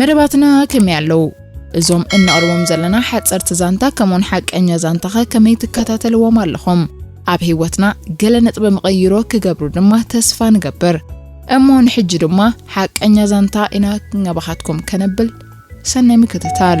መደባትና ከመይ ኣለዉ? እዞም እነቕርቦም ዘለና ሓጸርቲ ዛንታ ከምኡውን ሓቀኛ ዛንታኸ ከመይ ትከታተልዎም ኣለኹም? ኣብ ህይወትና ገለ ነጥበ መቐይሮ ክገብሩ ድማ ተስፋ ንገብር። እሞ ንሕጂ ድማ ሓቀኛ ዛንታ ኢና ናባኻትኩም ከነብል ሰናይ ምክትታል።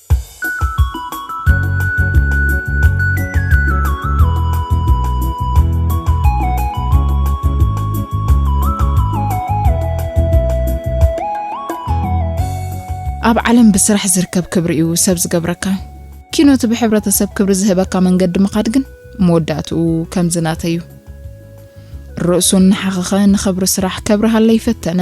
ኣብ ዓለም ብስራሕ ዝርከብ ክብሪ እዩ ሰብ ዝገብረካ። ኪኖቲ ብሕብረተሰብ ክብሪ ዝህበካ መንገዲ ምኻድ ግን መወዳእትኡ ከምዝናተዩ ርእሱ እናሓኸኸ ንኽብሪ ስራሕ ከብርሃለይ ፈተነ።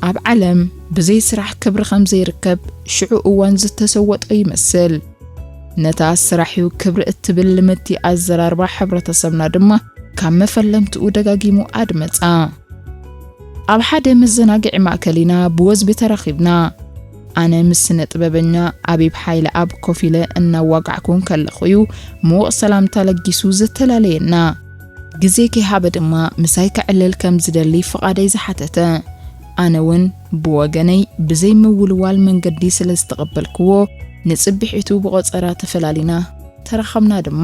ኣብ ዓለም ብዘይ ስራሕ ክብሪ ከም ዘይርከብ ሽዑ እዋን ዝተሰወጦ ይመስል። ነታ ስራሕ'ዩ ክብሪ እትብል ልምድቲ ኣዘራርባ ሕብረተሰብና ድማ ካብ መፈለምትኡ ደጋጊሙ ኣድመጻ። ኣብ ሓደ መዘናግዒ ማእከል ኢና ብወዝቢ ተራኺብና። ኣነ ምስ ስነ-ጥበበኛ ኣቢብ ሓይለኣብ ኮፍ ኢለ እናዋጋዕኩ እንከለኹ'ዩ ምዉቕ ሰላምታ ለጊሱ ዘተላለየና። ግዜ ከይሃበ ድማ ምሳይ ከዕልል ከም ዝደሊ ፍቓደይ ዝሓተተ። ኣነ ውን ብወገነይ ብዘይ ምውልዋል መንገዲ ስለ ዝተቐበልክዎ፣ ንጽብሒቱ ብቖጸራ ተፈላሊና። ተራኸብና ድማ።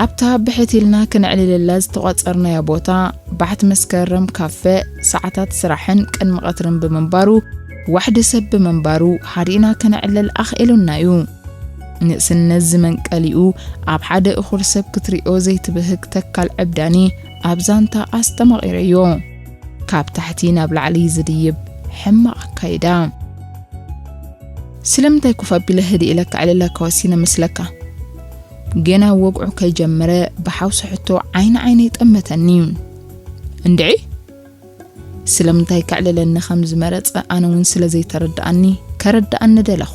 ኣብታ ብሕት ኢልና ክነዕልለላ ዝተቋጸርናያ ቦታ፣ ባሕት መስከረም ካፈ፣ ሰዓታት ስራሕን ቅድሚ ቐትርን ብምንባሩ፣ ዋሕዲ ሰብ ብምንባሩ ሓዲእና ከነዕልል ኣኽኢሉና እዩ። ንእስነት ዝመንቀሊኡ ኣብ ሓደ እኹል ሰብ ክትሪኦ ዘይትብህግ ተካል ዕብዳኒ ኣብ ዛንታ ኣስተማቒረዮ። ካብ ታሕቲ ናብ ላዕሊ ዝድይብ ሕማቕ ኣካይዳ። ስለምንታይ ኮፍ ኣቢለ ህድእ ኢለ ከዕልለካ ወሲነ መስለካ? ገና ወግዑ ከይጀመረ ብሓውሲ ሕቶ ዓይኒ ዓይነይ ጠመተኒ። እንድዒ! ስለምንታይ ከዕልለኒ ከም ዝመረጸ ኣነ እውን ስለ ዘይተረድኣኒ ከረድኣኒ ደለኹ።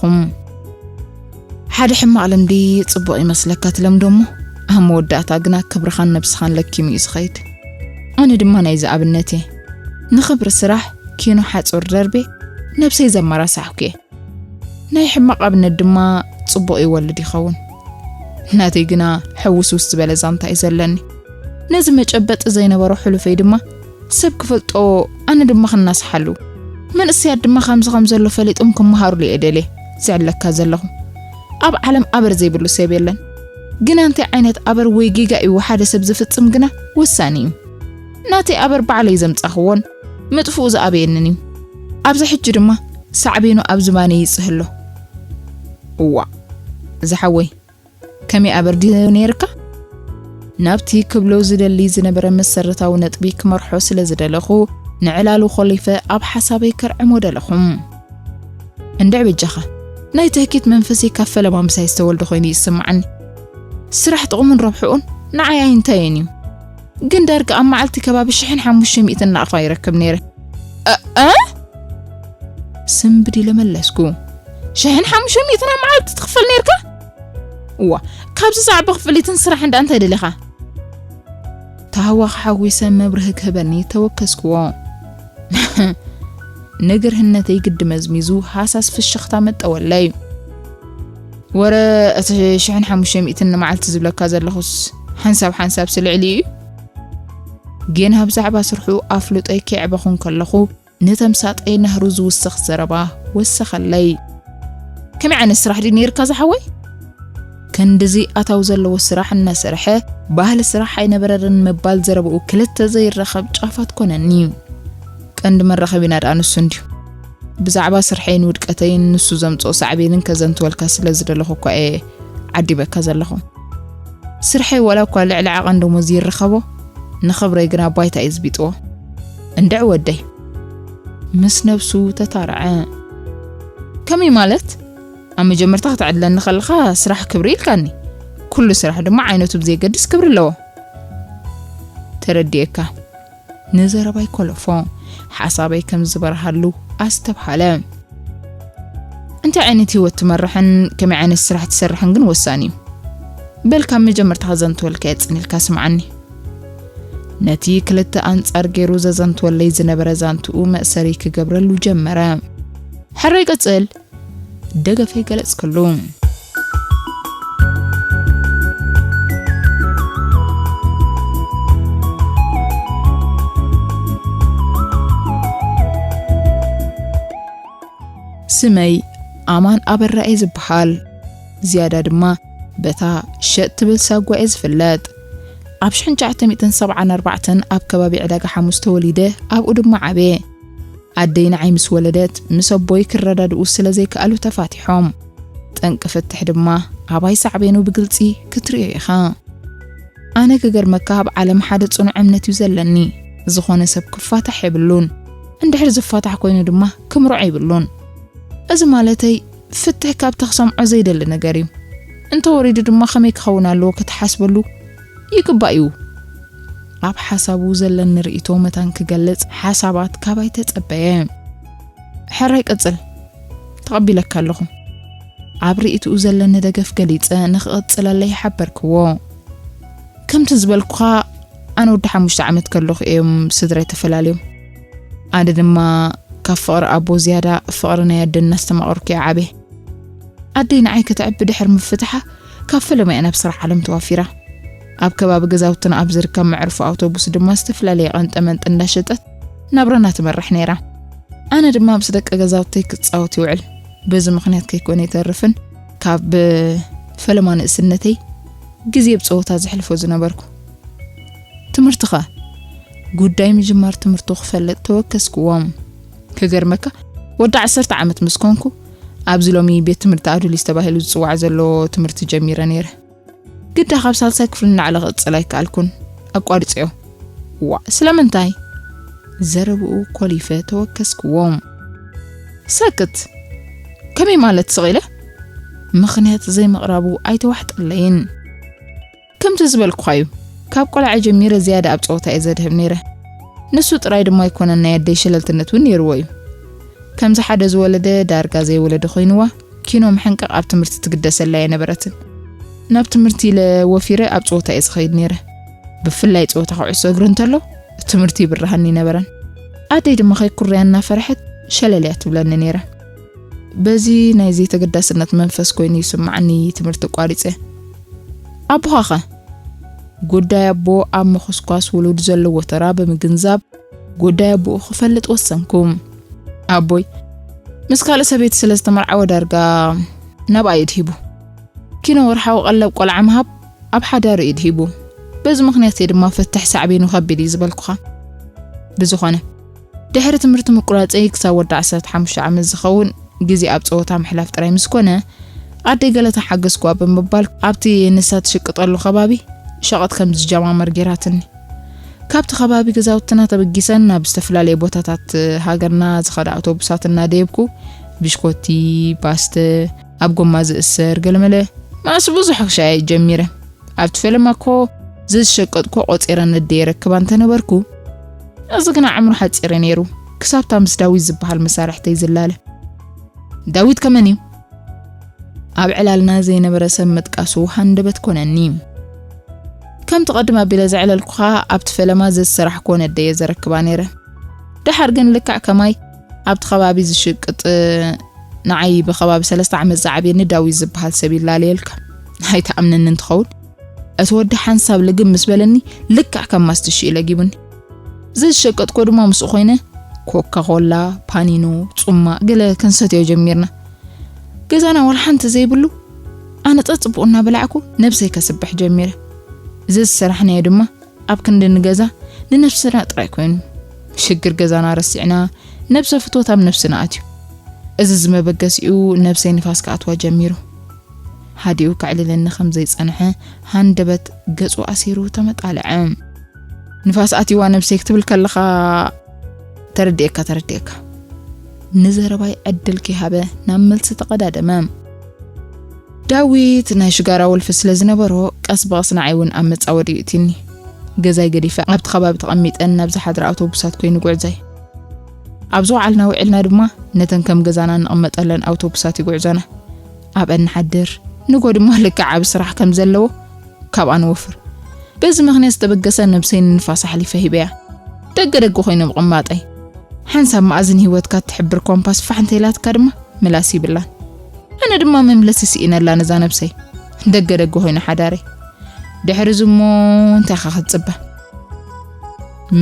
ሓደ ሕማቕ ልምዲ ጽቡቕ ይመስለካ ትለምዶ እሞ ኣብ መወዳእታ ግና ክብርኻን ነብስኻን ለኪሙ እዩ ዝኸይድ። ኣነ ድማ ናይዚ ኣብነት እየ። ንኽብሪ ስራሕ ኪኖ ሓጹር ደርቤ ነብሰይ ዘመራሳሕኩ እየ። ናይ ሕማቕ ኣብነት ድማ ጽቡቕ ይወልድ ይኸውን። ናተይ ግና ሕውስውስ ዝበለ ዛንታ እዩ ዘለኒ። ነዚ መጨበጢ ዘይነበሮ ሕሉፈይ ድማ ሰብ ክፈልጦ ኣነ ድማ ክናስሓሉ መንእሰያት ድማ ከምዚ ከም ዘሎ ፈሊጦም ክመሃሩሉ እየ ደልየ ዝዕለካ ዘለኹ ኣብ ዓለም ኣበር ዘይብሉ ሰብ የለን ግና እንታይ ዓይነት ኣበር ወይ ጌጋ እዩ ሓደ ሰብ ዝፍጽም ግና ወሳኒ እዩ ናተይ ኣበር ባዕለይ ዘምጻኽዎን ምጥፍኡ ዝኣበየንን እዩ ኣብዚ ሕጂ ድማ ሳዕቤኑ ኣብ ዝባነይ ይጽህሎ እዋ ዝሓወይ ከመይ ኣበርዲ ነይርካ? ናብቲ ክብሎ ዝደሊ ዝነበረ መሰረታዊ ነጥቢ ክመርሖ ስለ ዝደለኹ፣ ንዕላሉ ኾሊፈ ኣብ ሓሳበይ ከርዕሞ ደለኹ። እንድዒ በጃኻ፣ ናይ ትህኪት መንፈሰይ ካብ ፈለማ ምሳይ ዝተወልደ ኮይኑ እዩ ዝስምዓኒ። ስራሕ ጥቕሙን ረብሕኡን ንዓይ ኣይንታየን እዩ። ግን ዳርጋ ኣብ መዓልቲ ከባቢ ሽሕን ሓሙሽተ ሚእትን ናቕፋ ይረክብ ነይረ። ኣኣ ስምብድ ኢለ መለስኩ። ሽሕን ሓሙሽተ ሚእትን ኣብ መዓልቲ ትኽፈል ነይርካ? እዋ ካብዚ ዛዕባ ክፍሊትን ስራሕን ዳኣ እንታይ ደሊኻ? ታህዋኽ ሓጒሰ መብርሂ ክህበኒ ተወከስክዎ። ንግርህነተይ ግዲ መዝሚዙ ሃሳስ ፍሽኽታ መጠወለይ። ወረ እቲ ሽሕን ሓሙሽተ ሚእትን ንመዓልቲ ዝብለካ ዘለኹስ ሓንሳብ ሓንሳብሲ ልዕሊ እዩ ግን ኣብ ዛዕባ ስርሑ ኣፍልጦይ ከየዕበኹ እንከለኹ ንተምሳጠይ ናህሩ ዝውስኽ ዘረባ ወሰኸለይ ከመይ ዓይነት ስራሕ ድዩ ነይርካ ዝሓወይ ክንድዚ ኣታው ዘለዎ ስራሕ እናሰርሐ ባህሊ ስራሕ ኣይነበረርን ምባል ዘረብኡ ክልተ ዘይረኸብ ጫፋት ኮነኒ ቀንዲ መራኸቢና ደኣ ንሱ እንድዩ ብዛዕባ ስርሐይን ውድቀተይን ንሱ ዘምጽኦ ሳዕቤንን ከዘንትወልካ ስለ ዝደለኹ እኳ እየ ዓዲበካ ዘለኹ። ስርሐይ ዋላ እኳ ልዕሊ ዓቐን ደሞዝ ይረኸቦ፣ ንኽብረይ ግና ባይታ እዩ ዝቢጥዎ። እንድዕ ወደይ! ምስ ነብሱ ተታረዐ። ከመይ ማለት? ኣብ መጀመርታ ክትዕድለኒ ከለኻ ስራሕ ክብሪ ኢልካኒ፣ ኩሉ ስራሕ ድማ ዓይነቱ ብዘየገድስ ክብሪ ኣለዎ። ተረዲኤካ። ንዘረባይ ኮለፎ። ሓሳበይ ከም ዝበርሃሉ ኣስተብሃለ። እንታይ ዓይነት ህይወት ትመርሕን ከመይ ዓይነት ስራሕ ትሰርሕን ግን ወሳኒ እዩ። በል ካብ መጀመርታ ከዘንትወልካ የጽንልካ ስምዓኒ። ነቲ ክልተ ኣንጻር ገይሩ ዘዘንትወለይ ዝነበረ ዛንትኡ መእሰሪ ክገብረሉ ጀመረ። ሕራይ ቀጽል! ደገፈይ ገለጽክሉ። ስመይ ኣማን ኣበራ እየ ዝበሃል ዝያዳ ድማ በታ ሸጥ ትብል ሳጓ እየ ዝፍለጥ ኣብ 1974 ኣብ ከባቢ ዕዳጋ ሓሙስ ተወሊደ ኣብኡ ድማ ዓበየ ኣደይ ንዓይ ምስ ወለደት ምስ ኣቦይ ክረዳድኡ ስለ ዘይከኣሉ ተፋቲሖም። ጠንቂ ፍትሕ ድማ ኣባይ ሳዕቤኑ ብግልጺ ክትርእዮ ኢኻ። ኣነ ክገርመካ ኣብ ዓለም ሓደ ጽኑዕ እምነት እዩ ዘለኒ፣ ዝኾነ ሰብ ክፋታሕ የብሉን፣ እንድሕር ዝፋታሕ ኮይኑ ድማ ክምርዖ የብሉን። እዚ ማለተይ ፍትሕ ካብታ ክሰምዖ ዘይደሊ ነገር እዩ። እንተወሪዱ ድማ ከመይ ክኸውን ኣለዎ ክትሓስበሉ ይግባእ እዩ ኣብ ሓሳቡ ዘለኒ ርእይቶ መታን ክገልጽ ሓሳባት ካባይ ተጸበየ ሕራይ ቀጽል ተቐቢለካ ኣለኹ ኣብ ርእይትኡ ዘለኒ ደገፍ ገሊጸ ንክቐጽለለይ ሓበርክዎ ከምቲ ዝበልኩኻ ኣነ ወዲ ሓሙሽተ ዓመት ከለኹ እዮም ስድራይ ተፈላለዮም ኣነ ድማ ካብ ፍቕሪ ኣቦ ዝያዳ ፍቕሪ ናይ ኣደ እናስተማቐርኩ እየ ዓበ ኣደይ ንዓይ ከተዕቢ ድሕሪ ምፍትሓ ካብ ፈለማ'የ ናብ ስራሕ ዓለም ተዋፊራ። ኣብ ከባቢ ገዛውትና ኣብ ዝርከብ መዕርፎ ኣውቶቡስ ድማ ዝተፈላለየ ቀንጠመንጢ እንዳሸጠት ናብራና ትመርሕ ነይራ። ኣነ ድማ ምስ ደቂ ገዛውተይ ክጻወት ይውዕል። በዚ ምኽንያት ከይኮነ ይተርፍን ካብ ፈለማ ንእስነተይ ግዜ ብጸወታ ዘሕልፎ ዝነበርኩ። ትምህርትኻ ጉዳይ ምጅማር ትምህርቱ ክፈልጥ ተወከስክዎም። ክገርመካ ወዲ ዓሰርተ ዓመት ምስ ኮንኩ ኣብዚ ሎሚ ቤት ትምህርቲ ኣዱሊስ ተባሂሉ ዝጽዋዕ ዘሎ ትምህርቲ ጀሚረ ነይረ። ግዳ ካብ ሳልሳይ ክፍሊ ንላዕሊ ክቕጽል ኣይከኣልኩን፣ ኣቋሪጸዮ። ዋእ ስለምንታይ? ዘረብኡ ኮሊፈ ተወከስክዎም። ሰክት! ከመይ ማለት ስቕ ኢለ? ምኽንያት ዘይምቕራቡ ኣይተዋሕጠለይን። ከምቲ ዝበልኩኻ እዩ ካብ ቆልዓ ጀሚረ ዝያዳ ኣብ ጸወታ እየ ዘድህብ ነይረ ንሱ ጥራይ ድማ ኣይኮነን ናይ ኣደይ ሸለልትነት እውን ነይርዎ እዩ ከምዚ ሓደ ዝወለደ ዳርጋ ዘይወለደ ኮይንዋ ኪኖ ምሕንቃቕ ኣብ ትምህርቲ ትግደሰላ ኣይነበረትን ናብ ትምህርቲ ኢለ ወፊረ ኣብ ጸወታ እየ ዝኸይድ ነይረ ብፍላይ ጸወታ ኩዕሶ እግሪ እንተሎ ትምህርቲ ይብርሃኒ ነበረን ኣደይ ድማ ከይኩርያ እናፈርሐት ሸለልያ ትብለኒ ነይራ በዚ ናይ ዘይተገዳስነት መንፈስ ኮይኑ ይስማዓኒ ትምህርቲ ቋሪጸ። ኣቦኻኸ? ጉዳይ ኣቦ ኣብ ምኹስኳስ ውሉድ ዘለዎ ተራ ብምግንዛብ ጉዳይ ኣቦኡ ክፈልጥ ወሰንኩ። ኣቦይ ምስ ካልእ ሰበይቲ ስለ ዝተመርዓወ ዳርጋ ናብኣ ኢድ ሂቡ። ኪኖ ወርሓዊ ቀለብ ቆልዓ ምሃብ ኣብ ሓዳሩ ኢድ ሂቡ። በዚ ምኽንያት እየ ድማ ፍትሕ ሳዕቤኑ ከቢድ እዩ ዝበልኩኻ። ብዝኾነ ድሕሪ ትምህርቲ ምቁራጸይ ክሳብ ወዲ ዓሰርተ ሓሙሽተ ዓመት ዝኸውን ግዜ ኣብ ጸወታ ምሕላፍ ጥራይ ምስ ኮነ፣ ኣደይ ገለ ተሓገዝኩዋ ብምባል ኣብቲ ንሳ ትሽቅጠሉ ከባቢ ሸቐጥ ከም ዝጀማመር ገይራትኒ። ካብቲ ከባቢ ገዛውትና ተበጊሰን ናብ ዝተፈላለየ ቦታታት ሃገርና ዝኸዳ ኣውቶቡሳት እናደየብኩ ብሽኮቲ፣ ባስተ፣ ኣብ ጎማ ዝእሰር ገለመለ ማስ ብዙሕ ክሸያየጥ ጀሚረ። ኣብቲ ፈለማ እኮ ዘዝሸቀጥኩ ቆጺረ ነደይ የረክባ እንተነበርኩ፣ እዚ ግና ዕምሩ ሓጺር'ዩ ነይሩ፣ ክሳብ'ታ ምስ ዳዊት ዝበሃል መሳርሕተይ ዝላለ። ዳዊት ከመን'ዩ? ኣብ ዕላልና ዘይነበረ ሰብ ምጥቃሱ ሃንደበት ኮነኒ። ከም'ቲ ቅድም ኣቢለ ዘዕለልኩኻ፣ ኣብ'ቲ ፈለማ ዘዝሰራሕኩዎ ነደይ'የ ዘረክባ ነይረ። ደሓር ግን ልክዕ ከማይ ኣብ'ቲ ከባቢ ዝሽቅጥ ንዓይ ብከባቢ ሰለስተ ዓመት ዝዓብየኒ ዳዊት ዝበሃል ሰብ ይላለየልካ። ኣይትኣምነንን ትኸውን። እቲ ወዲ ሓንሳብ ልግብ ምስ በለኒ ልክዕ ከም ማስትሽ እዩ ለጊቡኒ። ዘዝሸቀጥኮ ድማ ምስኡ ኮይነ ኮካ ኮላ፣ ፓኒኖ፣ ጹማ ገለ ክንሰትዮ ጀሚርና። ገዛና ዋላ ሓንቲ ዘይብሉ ኣነ ጸጽቡቕ እናበላዕኩ ነብሰይ ከስብሕ ጀሚረ። እዚ ዝሰራሕናዮ ድማ ኣብ ክንዲ ንገዛ ንነብስና ጥራይ ኮይኑ ሽግር ገዛና ረሲዕና ነብሰ ፍትወት ኣብ ነብስና ኣትዩ። እዚ ዝመበገሲኡ ነብሰይ ንፋስ ክኣትዋ ጀሚሩ። ሃዲኡ ከዕልለኒ ከም ዘይጸንሐ፣ ሃንደበት ገጹ ኣሲሩ ተመጣልዐ። ንፋስ ኣትዩዋ ነብሰይ ክትብል ከለኻ ተረዲኤካ ተረዲኤካ። ንዘረባይ ዕድል ከይሃበ ናብ መልሲ ተቐዳደመ። ዳዊት ናይ ሽጋራ ወልፊ ስለ ዝነበሮ ቀስ ብቐስ ንዓይ እውን ኣብ መጻወዲ ይእትዩኒ። ገዛይ ገዲፈ ኣብቲ ከባቢ ተቐሚጠን ናብ ዝሓድራ ኣውቶቡሳት ኮይኑ ጉዕዘይ። ኣብ ዝወዓልና ውዒልና ድማ ነተን ከም ገዛና እንቕመጠለን ኣውቶቡሳት ይጉዕዘና። ኣብአን ንሓድር፣ ንግሆ ድማ ልክዕ ዓቢ ስራሕ ከም ዘለዎ ካብኣ ንወፍር። በዚ ምኽንያት ዝተበገሰ ነብሰይ ንንፋስ ኣሕሊፈ ሂበያ። ደገ ደገ ኮይኑ ምቕማጠይ። ሓንሳብ መኣዝን ህይወትካ እትሕብር ኮምፓስ ፋሕ እንተኢላትካ ድማ ምላስ ይብላን። ኣነ ድማ መምለሲ ስኢነላ ነዛ ነብሰይ። ደገ ደገ ኮይኑ ሓዳረይ። ድሕሪ እዚ እሞ እንታይ ኢኻ ክትጽበ?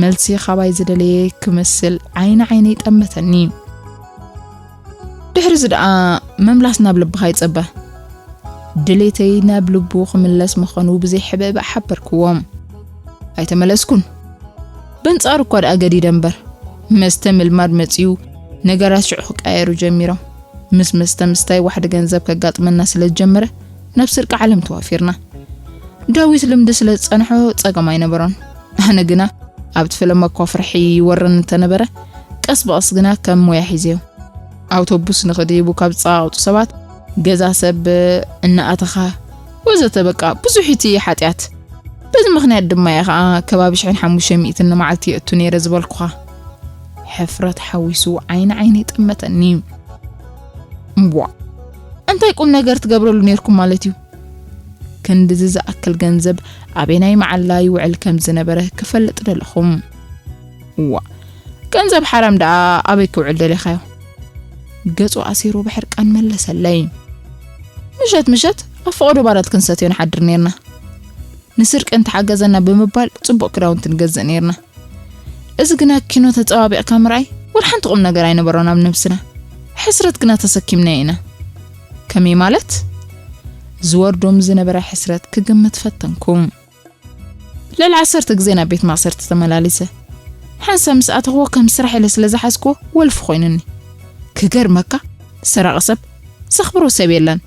መልሲ ካባይ ዝደለየ ክመስል ዓይኒ ዓይነይ ጠመተኒ። ድሕርዚ ደኣ ምምላስ ናብ ልብኻ ይጸበ። ድሌተይ ናብ ልቡ ክምለስ ምኸኑ ብዘይሕብእባእ ሓበርክዎም። ኣይተመለስኩን። በንጻሩ እኳ ደኣ ገዲደ እምበር፣ መስተ ምልማድ መጺኡ ነገራት ሽዑ ክቀያየሩ ጀሚሮም። ምስ መስተ ምስታይ ዋሕዲ ገንዘብ ከጋጥመና ስለ ዝጀመረ፣ ናብ ስርቂ ዓለም ተዋፊርና። ዳዊት ልምዲ ስለ ዝጸንሖ ጸገም ኣይነበሮን። ኣነ ግና ኣብቲ ፍልም እኳ ፍርሒ ይወርኒ እንተነበረ ቀስ ብቐስ ግና ከም ሞያ ሒዘዮ። ኣውቶቡስ ንኽድይቡ ካብ ዝጸቓቕጡ ሰባት፣ ገዛ ሰብ እናኣተኻ ወዘተ በቃ ብዙሕ እቲ ሓጢኣት። በዚ ምኽንያት ድማ እየ ኸኣ ከባቢ ሽሕን ሓሙሽተ ሚእትን ንመዓልቲ የእቱ ነይረ ዝበልኩኻ። ሕፍረት ሓዊሱ ዓይኒ ዓይነይ ጠመተኒ። እምቧእ! እንታይ ቁም ነገር ትገብረሉ ነይርኩም ማለት እዩ? ክንድዚ ዝኣክል ገንዘብ ኣበየናይ መዓላ ይውዕል ከምዝነበረ ክፈልጥ ደለኹ። እዋእ ገንዘብ ሓራም ደኣ ኣበይ ክውዕል ደሊኻዮ? ገጹ ኣሲሩ ብሕርቃን መለሰለይ። ምሸት ምሸት ኣብ ፈቐዶ ባራት ክንሰትዮ ንሓድር ኔርና። ንስርቂ እንተሓገዘና ብምባል ጽቡቕ ክዳውንቲ ንገዝእ ኔርና። እዚ ግና ኪኖ ተጸባቢቕካ ምርኣይ ወላ ሓንቲ ቁም ነገር ኣይነበሮን ኣብ ነብስና ሕስረት ግና ተሰኪምናዮ ኢና ከመይ ማለት ዝወርዶም ዝነበረ ሕስረት ክግምት ፈተንኩ ልዕሊ ዓሰርተ ግዜ ናብ ቤት ማእሰርቲ ተመላሊሰ ሓንሳ ምስ ኣተኽዎ ከም ስራሕ ኢለ ስለ ዝሓዝክዎ ወልፊ ኮይኑኒ ክገርመካ ሰራቂ ሰብ ዘኽብሮ ሰብ የለን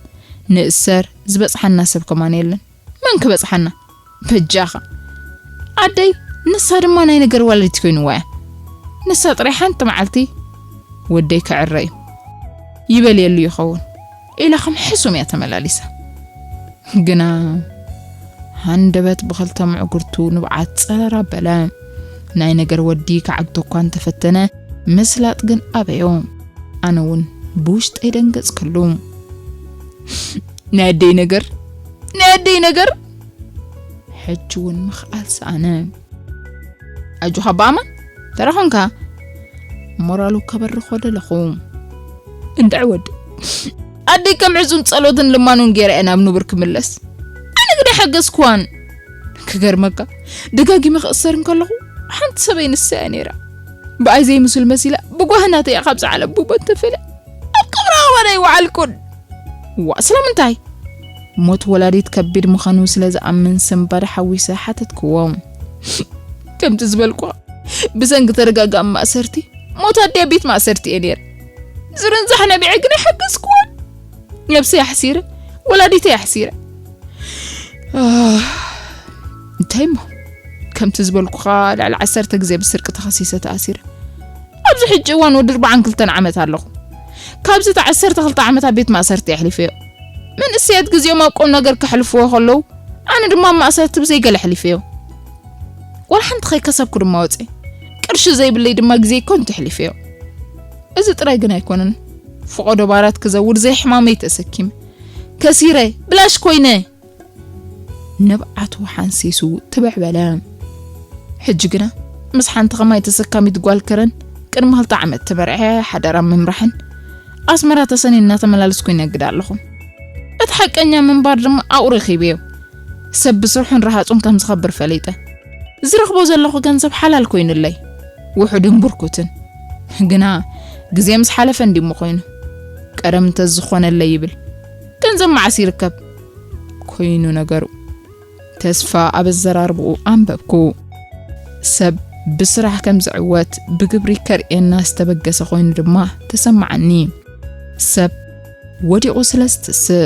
ንእሰር ዝበጽሓና ሰብ ከማን የለን መን ክበጽሓና በጃኻ ዓደይ ንሳ ድማ ናይ ነገር ዋለዲት ኮይንዋ እያ ንሳ ጥራይ ሓንቲ መዓልቲ ወደይ ክዕረ እዩ ይበልየሉ ይኸውን ኢላ ከም ሕሱም እያ ተመላሊሳ ግና ሃንደበት ብኸልተ ምዕጉርቱ ንብዓት ጸረራ በለ ናይ ነገር ወዲ ክዓግቶ እኳ እንተፈተነ ምስላጥ ግን ኣበዮ ኣነ እውን ብውሽጠይ ደንገጽ ክሉ ናይ ኣደይ ነገር ናይ ኣደይ ነገር ሕጂ እውን ምኽኣል ሰኣነ ኣጆኻ ብኣማን ተረኾንካ ሞራሉ ከበርኾ ደለኹ እንድዕ ወዲ ኣደይ ከም ዕዙም ጸሎትን ልማኑን ገይረ እየ ናብ ንቡር ክምለስ ኣነ ግዳ ሓገዝኩዋን ክገርመካ ደጋጊመ ክእሰር እንከለኹ ሓንቲ ሰበይ ንሳ እያ ነይራ ብኣይ ዘይምስል መሲላ ብጓህናተ እያ ካብዚ ዓለም ብሞት ተፈልያ ኣብ ቀብራ ዋላ ይወዓልኩን እዋእ ስለምንታይ? ሞት ወላዲት ከቢድ ምዃኑ ስለ ዝኣምን ስንባድ ሓዊሰ ሓተትክዎ። ከምቲ ዝበልኩ ብሰንኪ ተደጋጋሚ ማእሰርቲ ሞት ኣደይ ኣብ ቤት ማእሰርቲ እየ ነይረ። ዝርንዛሕ ነቢዐ ግን ኣይሓገዝክዎን። ነብሰይ ኣሕሲረ፣ ወላዲተይ ኣሕሲረ። እንታይ እሞ ከምቲ ዝበልኩኻ ልዕሊ ዓሰርተ ግዜ ብስርቂ ተኸሲሰ ተኣሲረ። ኣብዚ ሕጂ እዋን ወዲ ኣርባዓን ክልተን ዓመት ኣለኹ። ካብዚ እታ ዓሰርተ ክልተ ዓመት ኣብ ቤት ማእሰርቲ ኣሕሊፈዮ። መንእሰያት ግዜኦም ኣብ ቁምነገር ከሕልፍዎ ከለዉ፣ ኣነ ድማ ኣብ ማእሰርቲ ብዘይ ገለ ኣሕሊፈዮ። ዋላ ሓንቲ ከይከሰብኩ ድማ ወጺኤ። ቅርሺ ዘይብለይ ድማ ግዜይ ከንቱ ኣሕሊፈዮ። እዚ ጥራይ ግን ኣይኮነን። ፍቖዶ ባራት ክዘውር ዘይሕማመይ ተሰኪመ። ከሲረ፣ ብላሽ ኮይነ! ንብዓቱ ሓንሲሱ ትብዕ በለ። ሕጂ ግና ምስ ሓንቲ ከማይ ተሰካሚት ጓል ከረን ቅድሚ ክልተ ዓመት ተመርዐ ሓዳራ ምምራሕን ኣስመራ ተሰኒ እናተመላለስኩ ይነግድ ኣለኹ። እቲ ሓቀኛ ምንባር ድማ ኣብኡ ረኺበዮ። ሰብ ብስርሑን ረሃጹን ከም ዝኸብር ፈሊጠ። ዝረኽቦ ዘለኹ ገንዘብ ሓላል ኮይኑለይ ውሑድን ብርኩትን ግና ግዜ ምስ ሓለፈ እንዲሞ ኮይኑ ቀደም እንተዝኾነለይ ይብል። ገንዘብ መዓስ ይርከብ ኮይኑ ነገሩ። ተስፋ ኣብ ኣዘራርብኡ ኣንበብኩ። ሰብ ብስራሕ ከም ዝዕወት ብግብሪ ከርእየና ዝተበገሰ ኮይኑ ድማ ተሰማዓኒ። ሰብ ወዲቑ ስለ ዝትስእ።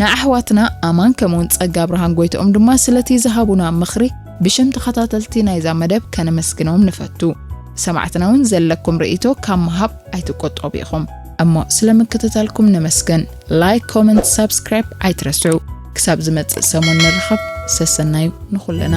ንኣሕዋትና ኣማን ከምኡውን ጸጋብርሃን ጎይትኦም ድማ ስለቲ ዝሃቡና ምኽሪ ብሽም ተኸታተልቲ ናይዛ መደብ ከነመስግኖም ንፈቱ። ሰማዕትና እውን ዘለኩም ርእይቶ ካብ ምሃብ ኣይትቆጠቡ ኢኹም። እሞ ስለ ምክትታልኩም ነመስግን። ላይክ፣ ኮመንት፣ ሳብስክራይብ ኣይትረስዑ። ክሳብ ዝመጽእ ሰሙን ንራኸብ። ሰሰናዩ ንኹልና።